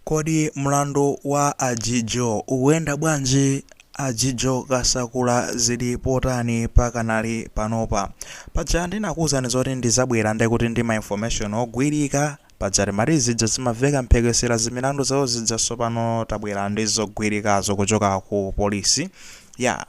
Kodi mlandu wa a Jijo ukuyenda bwanji? A Jijo Kasakula zili potani pakanali panopa? Paja ndinakuuzani zoti ndizabwera ndekuti ndi ma information ogwirika. Paja timati zija zimaveka mphekesera zimilandu zawo zija sopano tabwera ndi zogwirikazo kuchoka ku police. Yaa.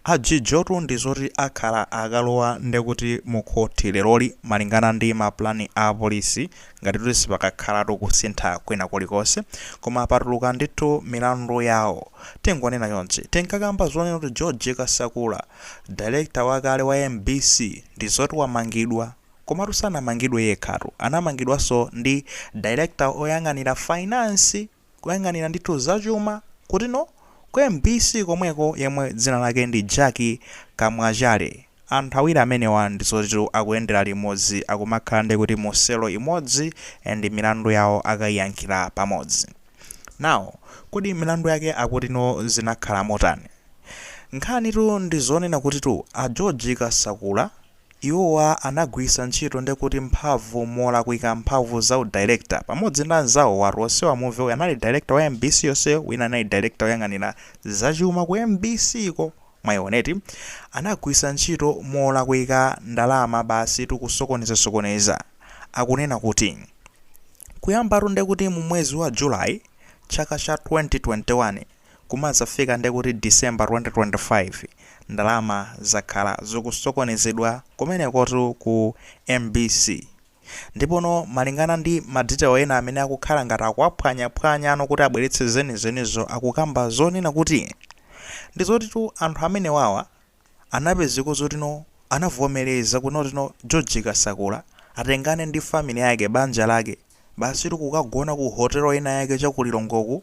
A Jijotu ndi zoti akhala akalowa ndekuti mu khothi leroli malingana ndi ma plan a apolisi ngati kuti sipakakhalatu kusintha kwina kulikonse koma patuluka ndithu milandu yawo. Tingonena chonchi. Tinkakamba zonena kuti George Kasakula, director wakale wa mbc ndi zoti wamangidwa. Komatu sanamangidwe yekhatu, anamangidwanso ndi director oyang'anira finance! kuyang'anira ndithu za chuma kuti no ku mbc komweko yemwe dzina lake ndi Jack Kamwachale anthu awiri amenewa ndizotitu akuyendera limodzi akumakhala nde kuti mu cell imodzi and milandu yawo akaiyankhira pamodzi now kodi milandu yake akuti no zinakhala motani? Nkhanitu ndizonena kutitu a George Kasakula, Iwowa anagwiritsa ntchito nde kuti mphamvu molakwika mphamvu za u director pamodzi ndi anzawo watu onsewa muve uyu anali director wa mbc yonse wina anali director oyang'anira za chuma ku mbc ko mwaiona eti anagwiritsa ntchito molakwika ndalama basi tu kusokoneza sokoneza akunena kuti kuyambatu nde kuti mu mwezi wa July chaka cha 2021 Kumadzafika nde kuti December 2025 ndalama zakhala zikusokonezedwa kumenekotu ku mbc. Ndipono malingana ndi ma detail ena amene akukhala ngati akuwaphwanyaphwanyano kuti abweretse zenizenizo akukamba zonena kuti ndizotitu anthu amenewawa anapezeka zoti no anavomeleza kunoti no George Kasakula atengane ndi family yake banja lake basitu kukagona ku hotel ina yake cha ku Lilongweku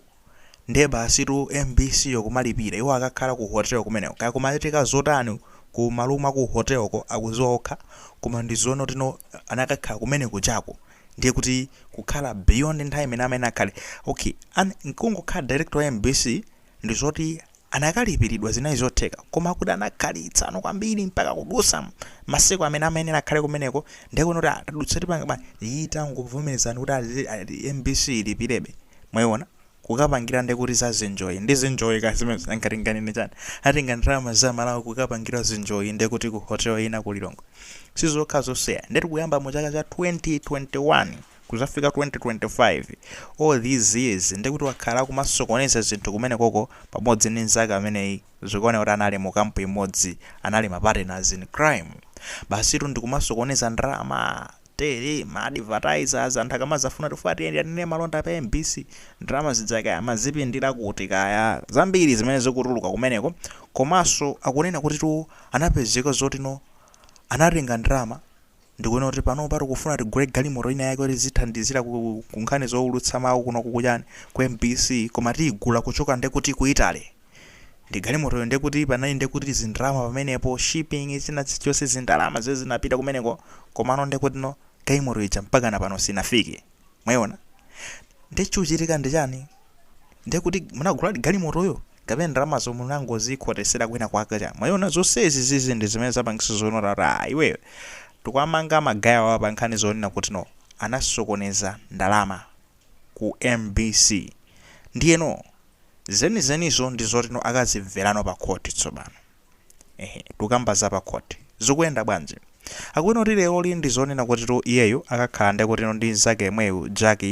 nde basitu mbc yo kumalipira iwo akakhala ku hotel kumeneko kaya kumachitika zotani ku ma room a ku hotel ko akuziwa okha koma ndi zonoti no anakakhala kumene kujako ndiye kuti kukhala beyond nthawi imene amayenera akhale okay and nkungokhala director wa mbc ndi zoti Anakalipilidwa zinali zotheka koma akuti anakhalitsano kwambiri mpaka kudusa masiku amene amayenera akhale kumeneko ndiye kuona kuti ah tadutsa tipanga bwanji ayi tangovomelezani kuti mbc ilipilebe mwaiona kukapangira ndiye kuti za zinjoyi ndi zinjoyi kaya zimenezo nanga tinganene chani atenga ndalama za amalawi kukapangira zinjoyi ndiye kuti ku hotel ina ku Lilongwe sizokhazo sir ndiye tikuyamba mu chaka cha 2021 kuzafika 2025 all these years ndekuti wakhala akumasokoneza zinthu kumenekoko pamodzi ndi nzake ameneyi zikuoneka kuti anali mu camp imodzi anali ma partners in crime basitu ndikumasokoneza ndalama tele ma advertisers anthu akamazafuna tifuna tinene malonda pa mbc ndalama zidzake amazipindila kuti kaya zambiri zimene zikutuluka kumeneko komanso akunena kuti tu anapezeka zotino anatenga ndalama Ndikunena kuti panopa tikufuna tigule galimoto ina yake yoti izithandizira ku, ku nkhani zoulutsa mawu kuno kuchani ku MBC koma tiyigula kuchoka nde kuti ku Italy. Ndi galimotoyo nde kuti panali nde kuti zindalama pamenepo shipping china chilichonse zindalama zimene zinapita kumeneko komano nde kuti no galimoto ija mpakana pano sinafike. Mwaiona? Nde chikuchitika ndi chani? Nde kuti munaguladi galimotoyo? kapena ndalamazo munangozikhotesera kwina kwake cha mwayiona zonsezi zizi ndi zimene zapangisa zonena kuti aah iweyo tikuwamanga magayawa pa nkhani zonena kuti no anasokoneza ndalama ku mbc ndiyeno zenizenizo ndi zoti no akazimverano pa khoti tsopano. ehe tukamba za pa court zikuyenda bwanji akunena kuti leroli ndi zonena kutitu iyeyo akakhala ndiye kutino ndi mzake yemweyu Jack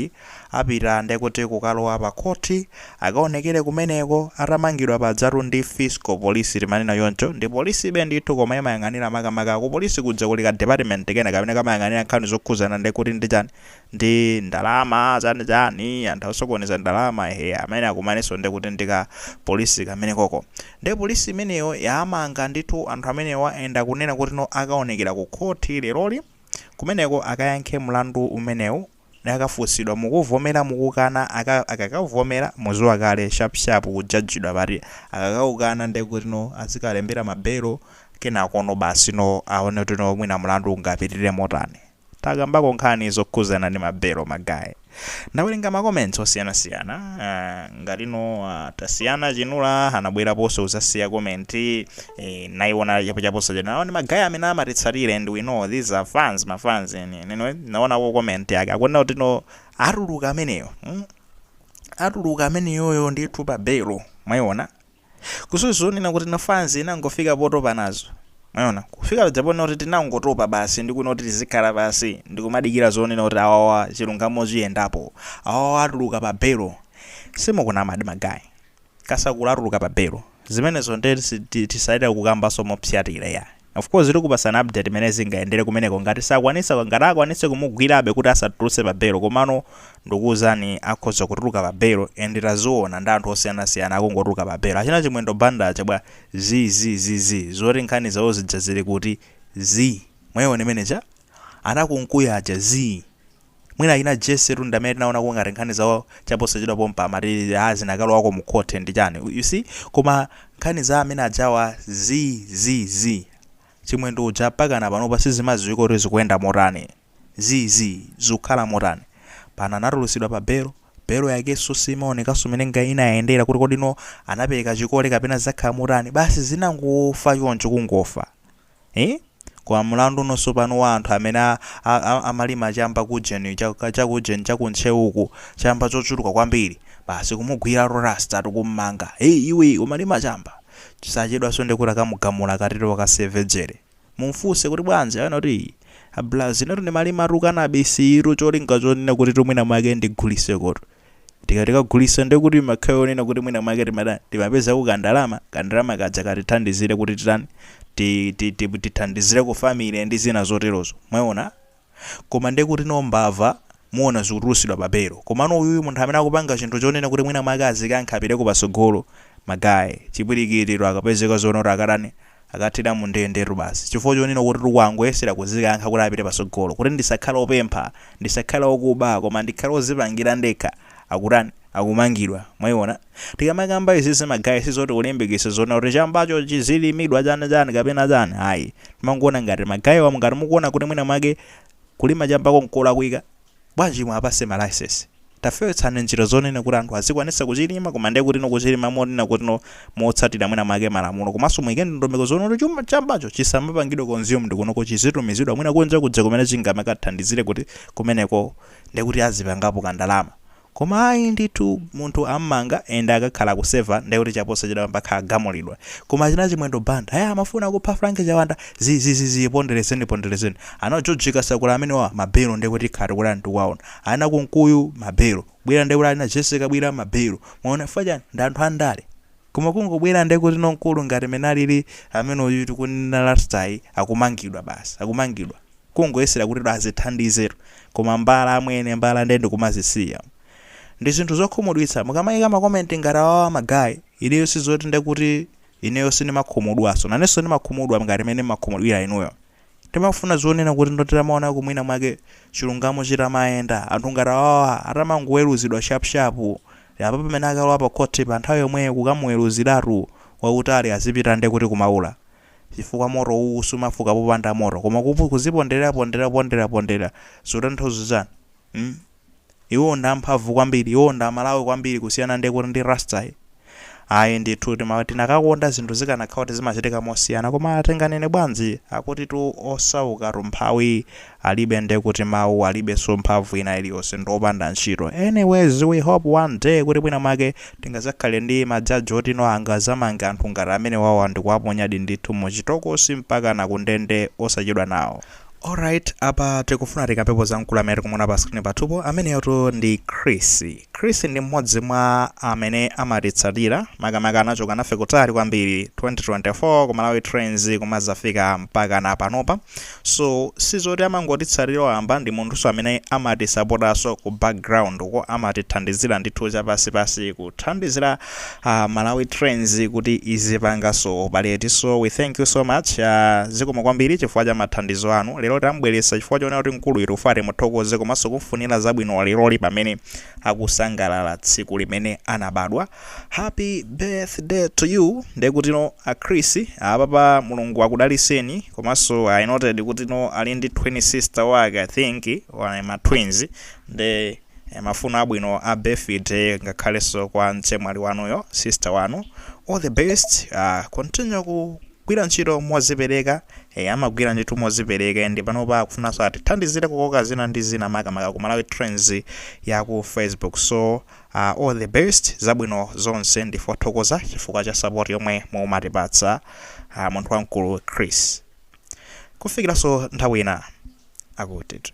apita ndiye kuti kukalowa pa khoti akaonekere kumeneko atamangidwa pajatu ndi fiscal polisi timanena choncho ndi polisibe ndithu koma imayang'anira makamaka kupolisi kuja kuli ka department kena kamene kamayang'anira nkhani zokhuzana ndiye kuti ndi chani ndi ndalama chani chani anthu osokoneza ndalama ehe amene akumanganso nde kuti ndika police kamene koko nde police imeneyo yamanga ndithu anthu amenewa and akunena kuti no akaonekera ku khoti leroli kumeneko akayankhe mlandu umenewu akafunsidwa mukuvomera mukukana aka akakavomera muziwa kale sharp sharp kujajidwa pati akakaukana nde kuti no azikalembera ma belo kenakono basi no aone kuti no mwina mlandu ungapitirire motani takambako nkhani zokhuzana ndi ma belo ma guy ndawerenga ma comments osiyana siyana uh, ngati no uh, tasiyana chinula anabweraponso kuzasiya comment eh, naiona chapo chaponso chena nawo ndi ma guy amene amatitsatira and we know these are fans ma fans enieni no naonako comment yake akunena kuti no atuluka ameneyo mm? atuluka ameneyoyo ndithu pa belo mwaiona Kuso zonena kuti no fans inangofika potopa nazo mwaiona kufika paja ponena kuti tinangotopa basi ndikunena kuti tizikhala pansi ndikumadikira zonena kuti awawa chilungamo chiyendapo awawa atuluka pa belo simukunamadi magayi kasakula atuluka pa belo zimenezo nde si- ti- tisaitira kukambanso mopsyatira yayi Of course tikupasani update mmene zingayendere kumeneko ngati sakwanisa ngati akwanise kumugwirabe kuti asatuluse pa belo komano ndukuuzani akhoza kutuluka pa belo and taziona ndi anthu osiyanasiyana akungotuluka pa belo achina chimwendo banda aja bwa? zi zi zi zi zoti nkhani zawo zija zili kuti? zi mwayiona imeneija? ana kunkuyu aja? zi. Mwina achina Jessy tu ndamene tinaonako ngati nkhani za chaposachedwa pompa amati haa zinakalowako mu court ndi chani u see koma nkhani za amene ajawa zi zi zi Chimwendo uja mpakana panopa sizimaziwika kuti zikuyenda motani zi zi zikukhala motani pano anatulusidwa pa belo belo yakeso simaonekaso mene inayendera kuti kodi no anapeleka chikole kapena zizakhala motani basi zinangofa choncho kungofa Eeh koma mlandu uno sopano wa anthu amene a, a, a, amalima chamba kujeni chaka- chakujeni chakuntcheuku chamba chochuluka kwambiri basi kumugwira tu rasta tukummanga hey iwe umalima chamba chisachedwanso ndekuti akamugamula akatero wakaseve jere mumfunse kuti bwanji anena kuti "Ii, abraz inetu ndimalima tu kanabisiyu cholinga chonena kuti tumwina mwake ndigulisekotu Tikati kagulisa ndiye kuti ma guy yonena kuti mwina mwake timatani timapezako kandalama, kandalama kaja katithandizire kuti titani ti, ti, ti, tithandizireko family ndi zina zoterozo. Mwaona? Koma ndiye kuti no mbava mukuona zikutulusidwa pa belo. Komano uyuyu munthu amene akupanga chinthu chonena kuti mwina mwake azikankha apiteko patsogolo, ma guy, chipikitiro akapezeka zonena kuti akatani akathera mu ndendetu basi chifukwa chonena kutitu wangoyesera kuzikankha kuti apite patsogolo kuti ndisakhale opempha, ndisakhale okuba koma ndikhale ozipangira ndekha akutani, akumangidwa, mwaiona? Tikamakamba izizi ma guy sizoti kulimbikitsa zonena kuti chambacho chizilimidwa chani chani kapena chani ayi, tikumaona ngati ma guy wa ngati mukuona kuti mwina mwake kulima chambako nkolakwika, Bwanji inu abwana ma licence tafewetsani njira zonena kuti anthu azikwanisa kuchilima koma ndiye kutino kuchilima monena kutino motsatira mwina mwake malamulo komanso muike ndondomeko zonena kuti chambacho chisamapangidwe consumed kunoko chizitumizidwa mwina kunja kuja kumene chingamakathandizire kuti kumeneko ndekuti azipangapo kandalama Koma ayi ndithu munthu ammanga and akakhala akuseva ndiye kuti chaposachedwapa mpakha agamulidwa. Koma achina chimwendo banda aya amafuna kupha frank chawanda zi zi zi zii pondelezeni pondelezeni. Ana george kasakula amenewa ma belo ndiye kuti tikhala tikutani tikuwaona. Ana kunkuyu ma belo. Bwira ndiye kuti alina jessy kabwira ma belo. Mwaona chifukwa chani ndi anthu andale. Koma kungobwera nde kuti no mkulu ngati mene alili amene uyu tikunena rastayu akumangidwa basi akumangidwa kungoyesera kuti azithandize tu koma mbala amwene mbala nde ndikumazisiya ndi zinthu zokhumudwitsa mukamaika ma comment ngati awawa ma guy ineyo sizoti nde kuti ineyo sindimakhumudwaso nanenso ndimakhumudwa ngati mene mmakhumudwira inuyo Ndimafuna zonena kuti nditamaonako mwina mwake chilungamo chitamayenda, anthu ngati awawa atamangoweruzidwa shap shap, apa pamene akalowa pa court pa nthawi yomweyo kukamuweruziratu kwautali azipita nde kuti kumaula? Chifukwa moto utsi sumafuka popanda moto koma kuziponderera ponderera ponderera ponderera zikutanthauza chani? mm. Iwo ndi amphamvu kwambiri, iwo ndi amawu kwambiri kusiyana nde kuti ndi Rasta yi. Ayi ndithu tima tinakakonda zinthu zikanakhala kuti zimachitika mosiyana koma tinganene bwanji akuti tu osauka tumphawi alibe nde kuti mau alibenso mphamvu ina iliyonse ndi opanda ntchito. Anyways we hope one day kuti mwina mwake tingazakhale ndi ma judge oti no angazamange anthu ngati amenewawa ndikuwaponyadi ndithu mu chitokosi mpakana ku ndende osachedwa nawo. Alright, apa tikufuna tikambepo za mkulu amene tikumuona pa screen pathupo ameneyotu ndi Chris. Chris ndi mmodzi mwa amene amatitsatira makamaka anachoka nafe kutali kwambiri 2024 ku Malawi Trends kumazafika mpaka na panopa. So sizoti amangotitsatira wamba ndi munthunso amene amatisapotaso ku background ko amatithandizira ndithu chapansipansi kuthandizira a malawi trends kuti izipanga zopereti so we thank you so much zikomo kwambiri chifukwa cha mathandizo anu lero tambweretsa chifukwa choona kuti mkulu uyu tikufuna timuthokoze komanso kumfunira zabwino leroli pamene akusangalala tsiku limene anabadwa happy birthday to you ndekutino a chris apapa mulungu akudaliseni komanso i noted kutino ali ndi twin sister wake i think wa ma twins nde Mafuno abwino a birthday ngakhalenso kwa mchemwali wanuyo, sister wanu. All the best continue kugwira ntchito mozipereka ee amagwira ntchito mozipereka and panopa akufunanso atithandizire kukoka zina ndi zina makamaka ku Malawi Trends ya ku Facebook so all the best zabwino zonse ndife othokoza chifukwa cha support yomwe mumatipatsa munthu wamkulu Chris kufikiranso nthawi ina akuti